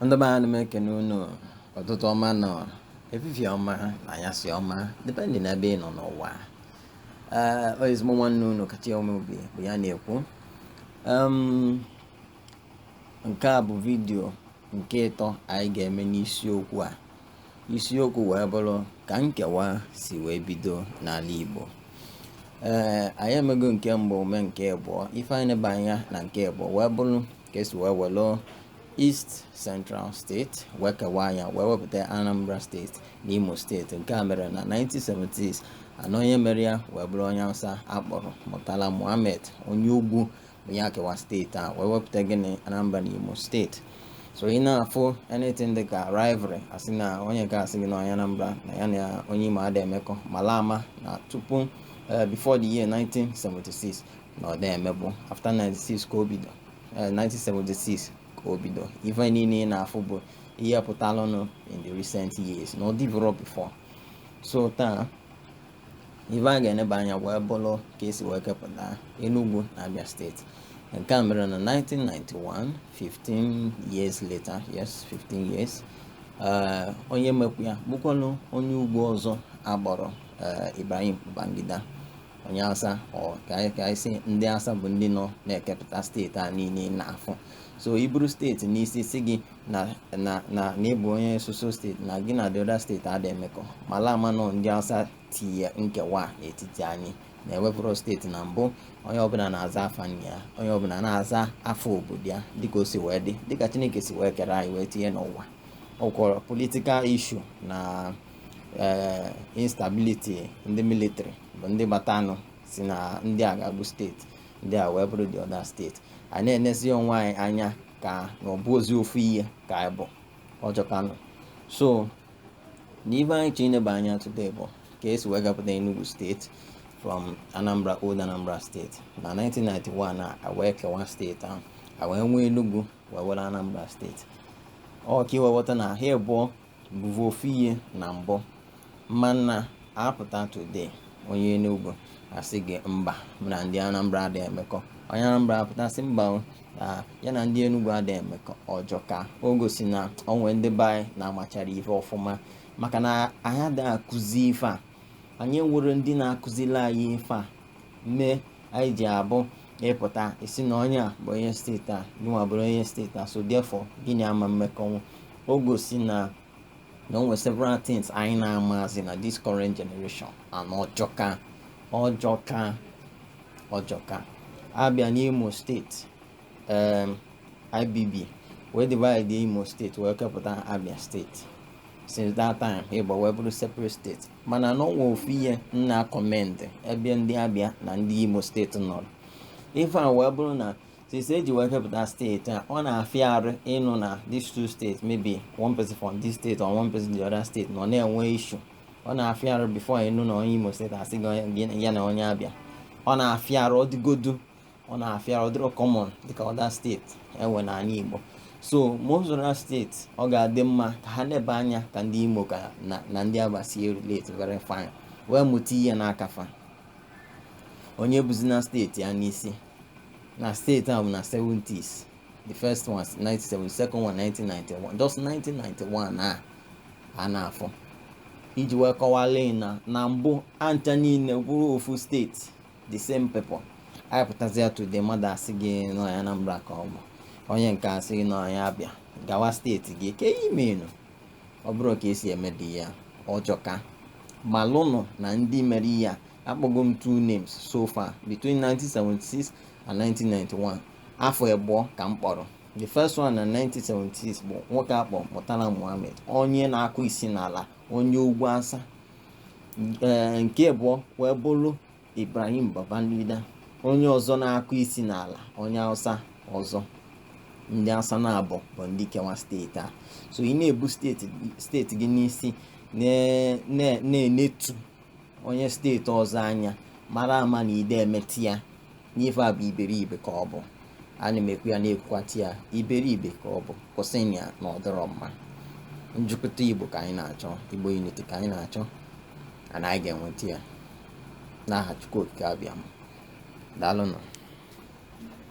ndị be anyị ana m ekene unu ụtụtụ ọma na efifie ọma na anyasị ọma depending n'ebe ị nọ n'ụwa ee ọ ezigbo nwanne unu Kachi Umeobi bụ ya na-ekwu Em, nke a bụ vidiyo nke ịtọ anyị ga-eme n'isiokwu a isiokwu wee bụrụ ka nkewa si wee bido n'ala Igbo ee anyị emego nke mbụ mee nke abụọ ife anyị neba anya na nke abụọ wee bụrụ ka esi wee welụ East Central State wee kewaa ya wee wepụta Anambra State na Imo Steeti nke a mere na 1976 and onye mere ya wee bụrụ onye Hausa akpọrọ Murtala Muhammed onye ugwu ọ ya kewa steeti a wee wepụta gịnị Anambra na Imo steeti so ị na-afụ anything dị ka rivalry asị na onye nke asị gị na onye Anambra na ya na onye Imo ada emekọ mala ama na tupu eh, before the year 1976 na ọ da emebu after 96 ka o bido 1976 eh, ka o bido ife niile ị na-afụ bụ ihe pụtalụnụ in the recent years na ọ dịburọ before so taa ife a ga-eneba anya wee bụrụ ka esi wee kepụta Enugu na Abia steeti nke a mere na 1991 15 years later yes 15 years eh, onye mekwu ya bụkwanụ onye ugwu ọzọ akpọrọ eh, Ibrahim Babangida onye Hausa ka anyị sị ndị Hausa bụ ndị nọ na-ekepụta steeti a niile ị na-afụ so i buru steeti n'isi sị gị na na na na ị bụ onye so so steeti na gị na the other steeti ada emekọ mala ama na ọ ndị Hausa tinye nkewa n'etiti anyị na enwevurọ steeti na mbụ onye ọbụla na-aza afa nna ya onye ọbụla na-aza afa obodo ya dịka o si wee dị dịka Chineke si wee kere anyị wee tinye n'ụwa ọkwọrọ political issue na eh, instability ndị military bụ ndị batalụ sị na ndị a ga-abụ steeti ndị a wee bụrụ the other steeti anyị na-enezi onwe anyị anya ka na ọ bụrọzi ofu ihe ka anyị bụ ọ jọkanụ so na ife anyị chọrọ ineba anya today bụ ka esi wee kapụta Enugu steeti from Anambra old Anambra steeti na 1991 a wee kewa steeti ahụ a wee nwee Enugu wee nwere Anambra steeti ọ ka i wee ghọta na ha abụọ bụvu ofu ihe na mbụ mana a pụta today onye Enugu asị gị mba mụ na ndị Anambra ada emekọ onye Anambra apụta sị mba o, na ya na ndị Enugu ada emekọ ọ jọka o gosi na o nwe ndị be anyị na-amacharọ ife ọfụma maka na anyị ada akụzi ife a anyị enwerọ ndị na-akụzili anyị ife a mee anyị ji abụ ị pụta ị sị na onye a bụ onye steeti a gịnwa bụrụ onye steeti a so therefore gị na ya ama mmekọnwu o gosi na na o nwere several things anyị na-amazi na this current generation and ọ jọka ọ jọka ọ jọka a bịa n'imo steeti um, ibb wee divide imo steeti wee kepụta abia steeti since that time Igbo wee bụrụ separate steeti mana na o nwe ofu ihe m na-commend ebe ndị Abia na ndị Imo steeti nọrọ ife a wee bụrụ na since e ji wee kepụta steeti a ọ na-afịa arụ ịnụ na these two states maybe one person from this state or one person the other state nọ na-enwe issue ọ na-afịa arụ before ị nụ na onye Imo steeti asị gị ya na onye Abia ọ na-afịa arụ ọ dịgodu ọ na-afịa ọ dịrọ common dịka other steeti e nwe n'ala Igbo so most other steeti ọ ga-adị mma ka ha nebe anya ka ndị Imo ka na ndị Abia si relate very fine wee mụta ihe n'aka fa onye buzina steeti ya n'isi na steeti a bụ na 70s the first one 1976 second one 1991 just 1991 a a na-afụ e ji wee kewalị na na mbụ anyị ncha niile bụrụ ofu steeti the same people anyị pụtazia today mmadụ asị gị na onye Anambra ka ọ bụ onye nke a asị gị na onye Abia gawa steeti gị ke ihe menụ ọ bụrọ ka e si eme dị ya ọ jọka malụnụ na ndị mere ihe a akpọgo m two names so far between 1976 and 1991 afọ abụọ ka m kpọrọ the first one na 1976 bụ nwoke a kpọ Murtala Muhammed onye na-akụ isi n'ala onye ugwu Hausa ee nke abụọ wee bụrụ ibrahim babangida onye ọzọ na-akụ isi n'ala onye hausa ọzọ ndị hausa naabọ bụ ndị kewa steeti a so ị na-ebu steeti steeti gị n'isi na- na- na-enetu onye steeti ọzọ anya mara ama na ide emeti ya n'ife a bụ iberibe ka ọ bụ ana m ekwu ya na-ekwukwata ya iberibe ka ọ bụ kwụsịnị ya na ọ dịrọ mma njikọta igbo ka anyị na-achọ igbo unity ka anyị na-achọ and anyị ga-enweta ya n'aha Chukwu Okike Abịama daalụnụ